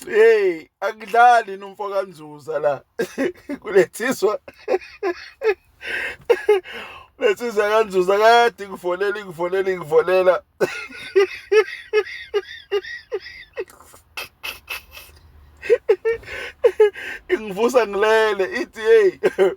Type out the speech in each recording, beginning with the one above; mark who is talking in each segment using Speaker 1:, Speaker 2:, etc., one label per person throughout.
Speaker 1: hey akudlali nomfo kanzuza la kulethiswa letsizwa kanzuza kade ngifonela ngifonela ngifonela ingivusa ngilele ithi hey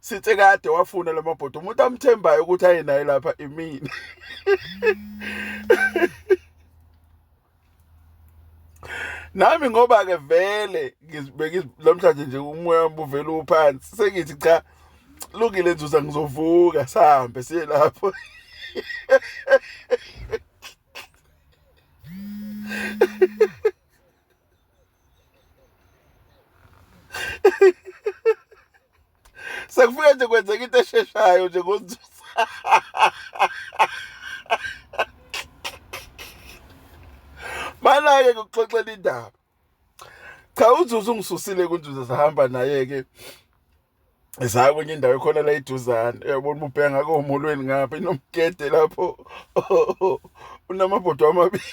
Speaker 1: sithe kade wafuna lamabhodi umuntu amthembayo ukuthi aye naye lapha imini nami ngoba ke vele ngizibeke namhlanje nje umoya wami uvela uphansi sengithi cha lungile nzuza ngizovuka sihambe siye lapho sekufike nje kwenzeka into esheshayo nje ngozuza Bala-ke ngokuxoxela indaba. Cha uZuzu ungisusile kunzuza sahamba naye-ke zaya kwenye indawo ekhona la iduzane uyabona uba ubheka ngako omolweni ngapha inomgede lapho unamabhodwa amabili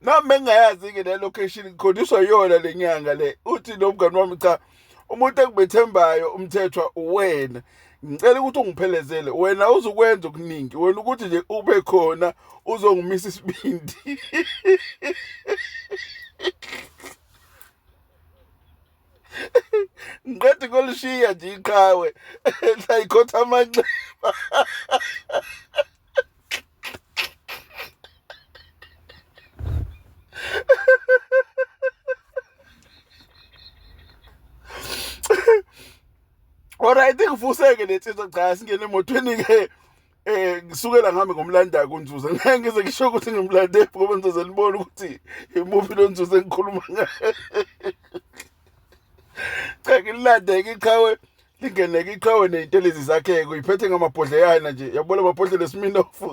Speaker 1: nami bengingayazi-ke le location ngikholiswa yona le nyanga le uthi nomngani wami cha umuntu engibethembayo umthethwa uwena ngicela ukuthi ungiphelezele wena uzukwenza okuningi wena ukuthi nje ube khona uzongimisa isibindi ngiqeda kolishiya nje iqhawe layikhotha amanxeba Alright ngifuseke letsizwa cha singene emotweni ke eh ngisukela ngami ngomlanda kunzuza ngeke ngize ngisho ukuthi ngimlande ngoba ngizoze nibone ukuthi imuphi lo nzuza engikhuluma ngaye cha ngilande ngiqhawe lingeneke iqhawe ney'ntelezi zakhe-ke uyiphethe ngamabhodleyana nje yabona amabhodlela esiminofu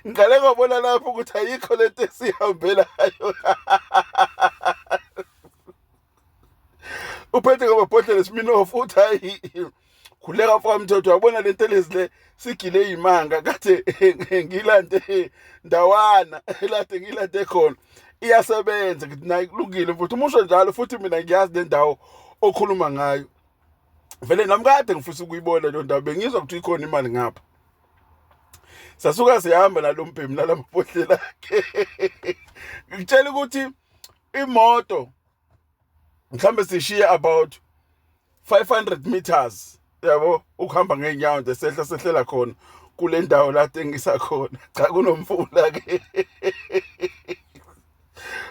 Speaker 1: ngiqale ngabona lapho ukuthi ayikho le nto esihambelayo uphethe ngamabhodlela esiminofu uthi hayi khuleka mfokamthetho yabona le ntelezi le sigile imanga kade ngilande ndawana elade ngilande khona iyasebenza ngithi nayi kulungile futhi umusho njalo futhi mina ngiyazi nendawo okhuluma ngayo vele nami kade ngifisa ukuyibona leyo ndawo bengizwa ukuthi ikhona imali ngapha sasuka sihamba nalo mbhemu nalamapohlelo akhe ngitshela ukuthi imoto mhlambe sishiye about 500 meters yabo ukuhamba ngeenyawo nje sehla sehlela khona kule ndawo la tengisa khona cha kunomfula ke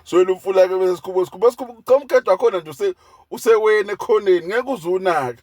Speaker 1: swela umfula ke bese sikhubo sikhubo sikhubo cha umkhetho wakhona nje use usewena ekhoneni ngeke uzunake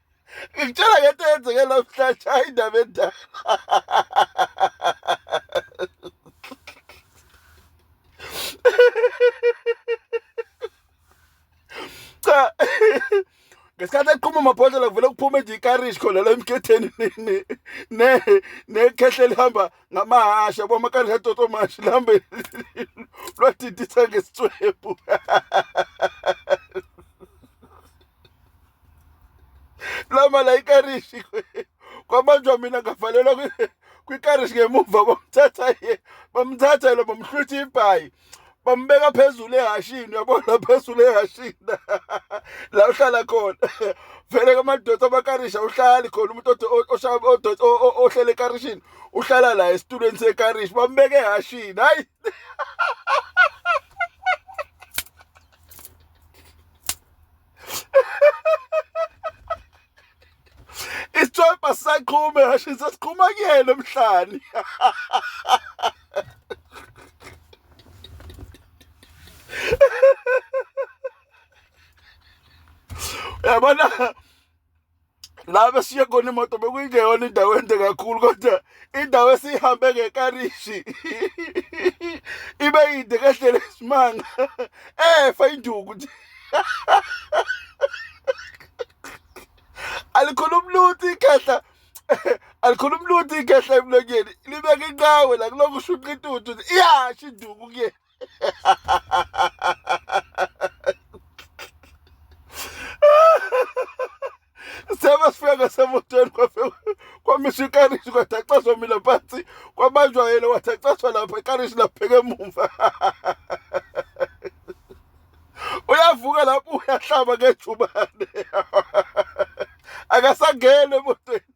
Speaker 1: ngikutshela ngento eyenzeke namhlanje hayi indaba endala cha ngesikhathi eqhuma amabhodlela kuvele kuphume nje ikarishi khona la emkhetheni nekhehle lihamba ngamahasha bo amakarishi atoto mashi lihambe lwadidisa ngesitswebhu la mala ikarishi kwabanjwa mina ngavalelwa kwikarishi ngemuva bamthatha ye bamthatha yena bamhlwitha ibhayi bambeka phezulu ehashini uyabona phezulu ehashini la uhlala khona vele kamadoda amakarisha uhlali khona umuntu ohlele ekarishini uhlala la esitulweni sekarishi bambeke ehashini hayi isithwebha sisaqhume ngasho sesiqhuma kuyena emhlani yabona la besiye khona imoto bekuyingeyona indawo ende kakhulu kodwa indawo esiyihambe ngekarishi ibe yinde kahlele isimanga efa induku nje alikhulumi lutho ikhehla alikhulumi lutho ikhehla emlonyeni libeka inqawe la kulokhu ushuqa intuthu iyasho induku kuyena seba sifika ngasemotweni kwafika kwamiswa ikarishi kwathi acaswa mina phansi kwabanjwa yena wathi acaswa lapha ikarishi lapheke emumva uyavuka lapho uyahlaba ngejubane akasangene emotweni